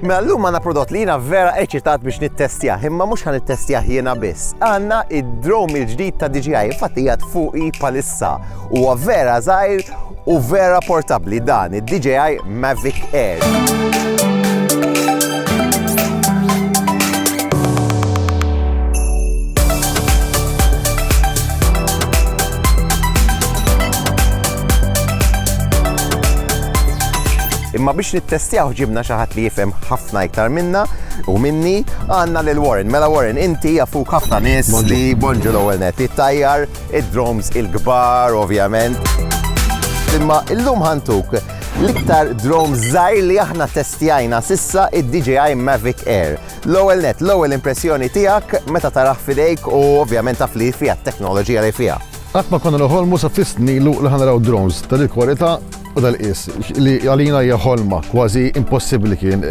Mela llum għandna prodott li jiena vera eċitat biex nittestjah, imma mhux ħan nittestjah jiena biss. Għandna id-drom il-ġdid ta' DJI, infatti hija fuqi palissa. Huwa vera żgħir u vera portabbli dan id-DJI Mavic Air. Imma biex nittestjawh ġibna xi ħadd li jifhem ħafna iktar minna u minni, għandna lil Warren. Mela Warren, inti jafuk ħafna nies li Bonġu l-ewwel net, it-tajjar, id-drones il-kbar ovvjament. Imma illum ħantuk l-iktar drone żgħir li aħna testjajna sissa id-DJI Mavic Air. L-ewwel net, l-ewwel impressjoni tiegħek meta taraħ fidejk u ovvjament taf li fiha t-teknoloġija li fiha. Qatt ma konna noħolmu sa fis nilu li ħanaraw drones tal-kwalità U dal-qies, li għalina hija ħolma kważi impossibbli kien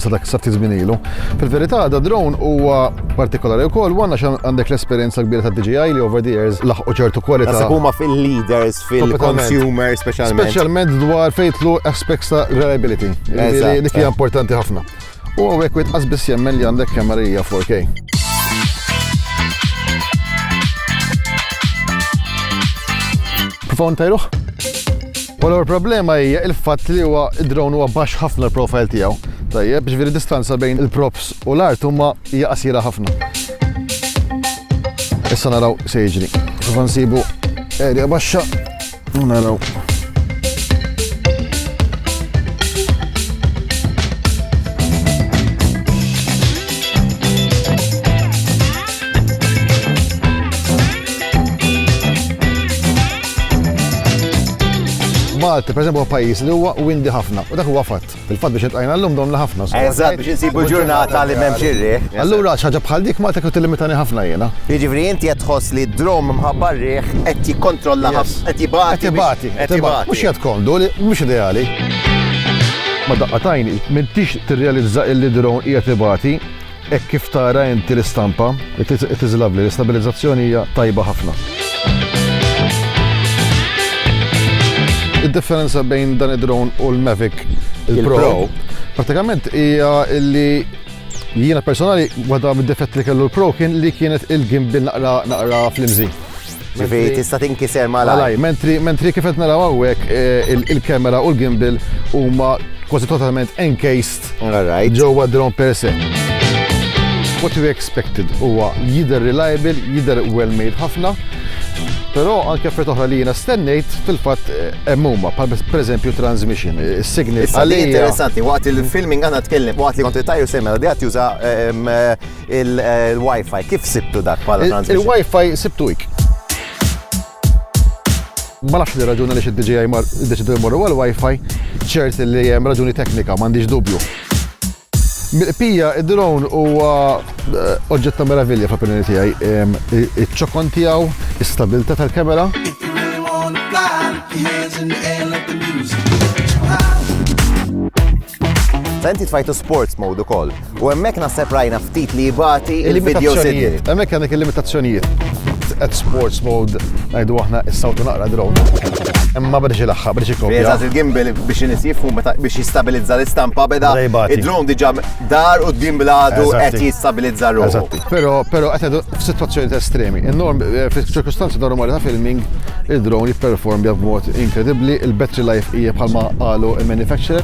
sa dak sa ftit żmien ilu. Fil-verità, da drone huwa partikolari wkoll u għandna għandek l-esperjenza kbira ta' DJI li over the years laħqu ċertu kwalità. Naħseb huma fil-leaders fil-consumer speċjalment. Speċjalment dwar fejtlu aspects ta' reliability. Dik hija importanti ħafna. U hawnhekk wieħed qas biss jemmen li għandek kemarija 4K. Provaw ntajruh? Wara l-problema hija il-fatt li huwa id-drone huwa baxx ħafna l-profile tiegħu. Tajjeb, ġifieri distanza bejn il-props u l-art huma hija qasira ħafna. Issa naraw se jiġri. Prova nsibu erja baxxa Naraw. Malta, per eżempju, pajjiż li huwa windi ħafna, u dak huwa fatt. Fil-fatt biex iltqajna llum domna ħafna. Eżatt biex insibu ġurnata li m'hemmx ir-riħ. Allura xi ħaġa bħal dik Malta kieku tillimitani ħafna jiena. Jiġifieri inti qed tħoss li d-drum mħabba r-riħ qed jikkontrolla ħafna, qed ibati. Qed ibati, qed ibati. Mhux qiegħed komdu, mhux ideali. Ma' daqqa t'għajn, m'intix tirrealizza illi d-drum qiegħed ibati. Hekk kif tara inti l-istampa, it iżlavli, l-istabilizzazzjoni hija tajba ħafna. Id-differenza bejn dan id-drone u l-Mavic il-Pro, pratikament hija li jiena personali waħda mid-difett li kellu l-Pro kien li kienet il-gimbal naqra naqra flimżi. Ġifi tista' tinkiser malaj. Mentri mentri kif qed naraw hawnhekk eh, il-kamera u l-gimbal huma kważi totalment encased ġewwa drone per se. What we expected huwa jidher reliable, jidher well made ħafna, Però anke fred oħra li jiena stennejt fil-fatt eh, hemm huma bħal pereżempju transmission, eh, signal. Issa li interessanti waqt il-filming għandna tkellem waqt li kont tajju semma li qed juża ehm, Il-Wi-Fi, kif sibtu dak bħala transmission? Il-Wi-Fi sibtu hekk. Ma nafx li raġuni li xid-DJI deċidu jmorru għal-Wi-Fi, ċert li hemm raġuni teknika, m'għandix dubju. Mill-qpija, id-drone huwa eh, oġġett ta' meravilja fl-opinjoni tiegħi. Ehm, iċ-ċokon tiegħu, is-stabilità tal-kamera. Fenti tfajtu sports mode ukoll. U hemmhekk naħseb rajna ftit li jibati il-video signal. Il-limitazzjonijiet. Hemmhekk għandek il-limitazzjonijiet. At sports mode ngħidu aħna s-sawtu naqra drone. Imma biex ilaħħaq, biex ikopja. Eżatt il-gimbal biex inis jifhmu meta biex jistabilizza l-istampa beda Beda jibati. id-drone diġà dar u d-gimbal għadu Eżatti. qed jistabilizza ruħu. Eżatti. Però, però qed ngħidu f'sitwazzjoni ta' estremi. In-norm, eh, fil-ċirkustanzi normali ta' filming, il-drone jipperformja b'mod inkredibbli, il-battery life hija bħalma qalu il-manufacturer.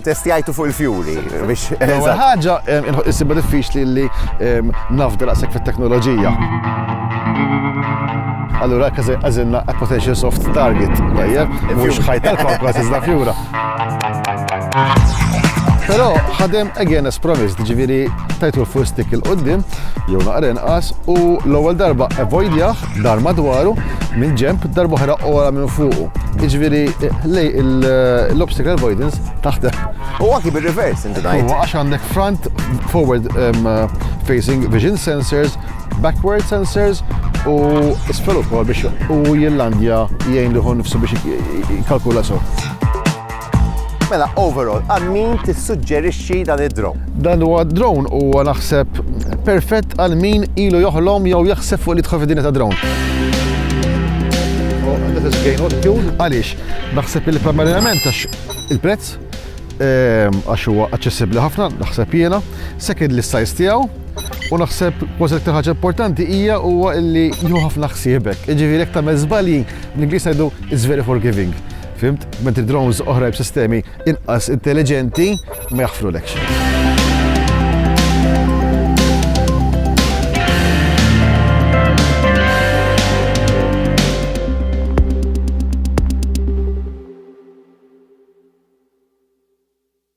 Testjajtu fuq il-fjuri biex. L-ewwel ħaġa issibha diffiċli li nafda daqshekk fit-teknoloġija. Allura għażilna a potential soft target, tajjeb, mhux ħajta l-komplas iżda fjura. Però ħadem again as promised, ġifieri tajtu l-full stick il-qoddim, jew naqra inqas, u l-ewwel darba avoidjah Dar madwaru, mill-ġenb, darb'oħra ogħla minn fuqu. Jiġifieri l-obstacle avoidance taħdem. U anki bir-reverse inti tgħid. Huwa għax għandek front forward facing vision sensors, backward sensors u isfel ukoll biex u jillandja jgħin liħu nifsu biex jkalkula so. Mela, overall, għal min tissuġġerixxi dan id-drone? Dan huwa drone huwa naħseb perfett għal min ilu joħlom jew jaħseb fuq li tħof id-dinja ta' drone. Oh, Għaliex, naħseb li primarjament għax il-prezz ehm, għax huwa aċċessibbli ħafna, naħseb jiena, second li size tiegħu, u naħseb kważi iktar ħaġa importanti hija huwa li jieħu ħafna ħsiebek. Jiġifieri jekk tagħmel żbalji, l-Ingliż ngħidu is very forgiving. Fhimt? Mentri drones oħra b'sistemi inqas intelliġenti ma jaħfrulekx.